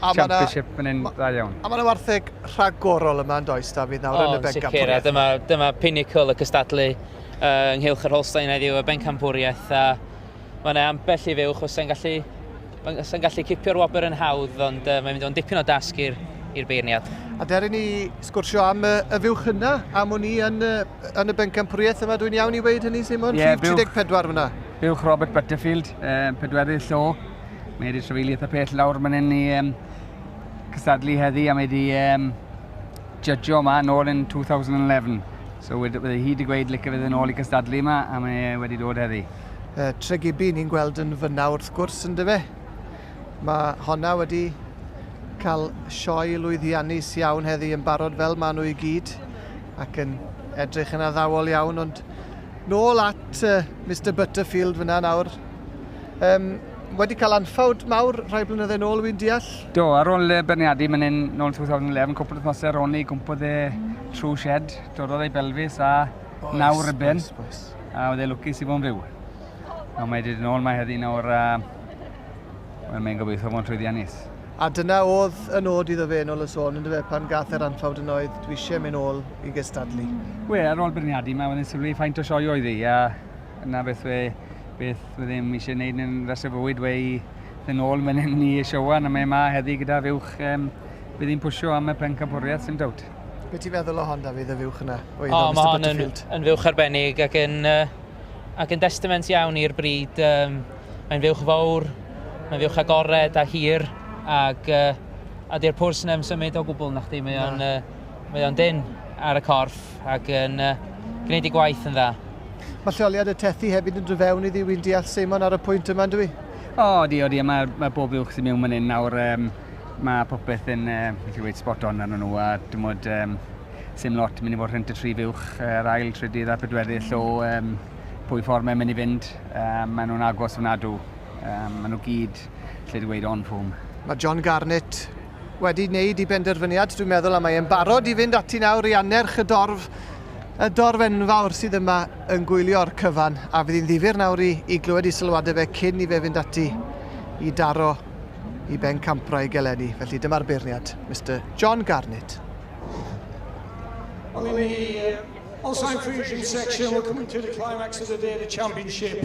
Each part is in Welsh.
Championship yn un dda iawn. A mae yna wartheg rhagorol yma yn does, Dafydd, nawr yn y bencampwriaeth. O, dyma, dyma pinnacle y cystadlu uh, ynghylch yr Holstein heddiw y bencampwriaeth. A mae yna ambell i fywch os yn gallu, os yn gallu cipio'r wobr yn hawdd, ond uh, mae'n mynd o'n dipyn o dasg i'r i'r beirniad. A der i ni sgwrsio am y, y fywch yna, am o'n i yn, yn y bencampwriaeth yma, dwi'n iawn i weid hynny, Simon? Yeah, 34 fyna. Bywch Robert Butterfield, um, pedwerydd llo, Mae wedi trefeili eitha pell lawr man hyn i um, cystadlu heddi a mae wedi um, judgio yma nôl yn 2011. So wedi, wedi hi wedi gweud licio fydd yn ôl i cystadlu yma a mae e wedi dod heddi. Uh, Tregibi ni'n gweld yn fyna wrth gwrs yn dyfe. Mae honna wedi cael sioe lwyddiannus iawn heddi yn barod fel maen nhw i gyd ac yn edrych yn addawol iawn ond nôl at uh, Mr Butterfield fyna nawr Um, wedi cael anffawd mawr rhai blynyddoedd nôl, wy'n deall? Do, ar ôl y berniadu mynd yn ôl 2011, cwpl wythnos ar ôl ni, gwmpodd e trwy shed, dorodd ei belfus a naw rybyn, a oedd e lwcus i fod yn fyw. A mae wedi dod yn ôl, mae heddi nawr, uh, well, mae'n gobeithio fod yn llwyddiannus. A dyna oedd y nod iddo fe yn ôl y sôn, ynddo fe, pan gath e'r anffawd yn oedd, dwi eisiau mynd ôl i gystadlu. Wel, ar ôl berniadu, mae wedi sylwi faint o sioe oedd hi, a Yna beth we, beth we ddim eisiau gwneud yn rhas y bywyd we i ddyn ôl mynd yn ni eisiau wan, a mae yma heddi gyda fuwch, um, bydd hi'n pwysio am y pencampwriaeth sy'n dawt. Be ti'n feddwl o hon, Dafydd, y fuwch yna? O, oh, mae hon yn, yn fuwch arbennig ac yn, uh, ac yn destament iawn i'r bryd. Um, mae'n fuwch fawr, mae'n fuwch agored a hir, ac uh, a di'r pwrs yn symud o gwbl na chdi, mae o'n, uh, mae o'n dyn ar y corff. ac yn uh, gwneud ei gwaith yn dda. Mae lleoliad y tethi hefyd yn dod i ddi wy'n deall Seimon ar y pwynt yma, dwi? O, oh, di, o di, mae, mae bob uwch sy'n mewn yn nawr, um, mae popeth yn, um, beth i weid, spot on arno nhw, a dim ond um, sy'n lot mynd i fod rhent y tri fuwch, yr ail, trydydd a pedwerydd, so um, pwy ffordd mae'n mynd i fynd, um, maen nhw'n agos ofnadw, um, maen nhw gyd, lle di weid, on ffwm. Mae John Garnett, wedi wneud ei benderfyniad, dwi'n meddwl, a mae e'n barod i fynd ati nawr i annerch y dorf, y dorf enfawr sydd yma yn gwylio'r cyfan, a fydd hi'n ddifyr nawr i, i glywed i sylwadau fe cyn i fe fynd ati i daro i ben campra i gelenni. Felly dyma'r beirniad, Mr John Garnett. Well, in the uh, Alzheimer's Region section, we're coming to the climax of the day of the championship.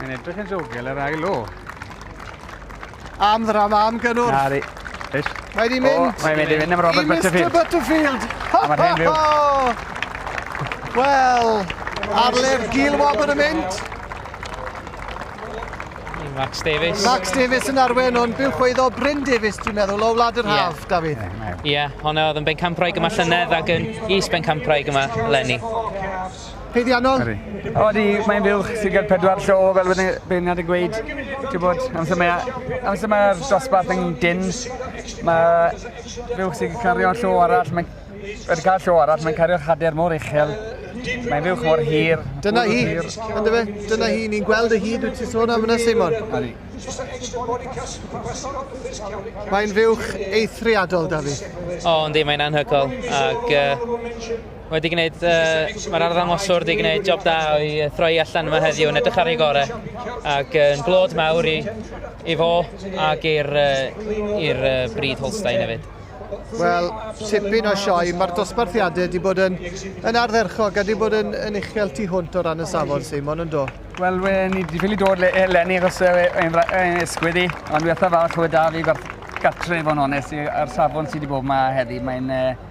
Mae'n edrych yn ddiogel yr ail o. Am ddrama, am gynnwrf. Na, di. Mae di mynd. Oh, mae'n mynd i fynd am Robert Butterfield. Mr Butterfield. Mae'n hen fyw. Wel, ar lef Gil Wobber yn mynd. Max Davis. Max Davis yn arwen o'n byw chwyddo Bryn Davis, dwi'n meddwl, o Wlad yr Haf, yeah. David. Ie, yeah, hwnna oedd yn bencampwraig yma llynedd ac yn is bencampwraig yma lenni. Haeddiannol? Odi, mae'n fuwch, ti'n cael pedwar llo fel wedi beirniad yn gweud, ti'n bod, amser mae, amser mae'r dosbarth yn dyn, mae fuwch sy'n cario llo arall, mae'n wedi cael llo arall, mae'n cario chader mor uchel, mae'n fuwch mor hir. Dyna hi, ynddo fe, dyna hi, ni'n gweld y hyd wyt ti'n sôn am yna, Simon. Odi. Mae'n fuwch eithriadol, Dafi. O, yndi, mae'n anhygol, ac uh, Wedi gwneud, uh, mae'r arddangoswr wedi gwneud job da i throi allan yma heddiw yn edrych ar ei gore ac yn uh, blod mawr i, i fo ac i'r uh, uh, bryd Holstein hefyd. Wel, tipyn o sioe. Mae'r dosbarthiadau wedi bod yn, yn ardderchog a wedi bod yn, yn uchel tu hwnt o ran y safon, Simon, yn do? Wel, we, ni wedi ffili dod le, lenni achos yn esgwyd i, ond wethaf falch o da fi gartref o'n onest ar safon sydd wedi bod yma heddi. Mae'n uh,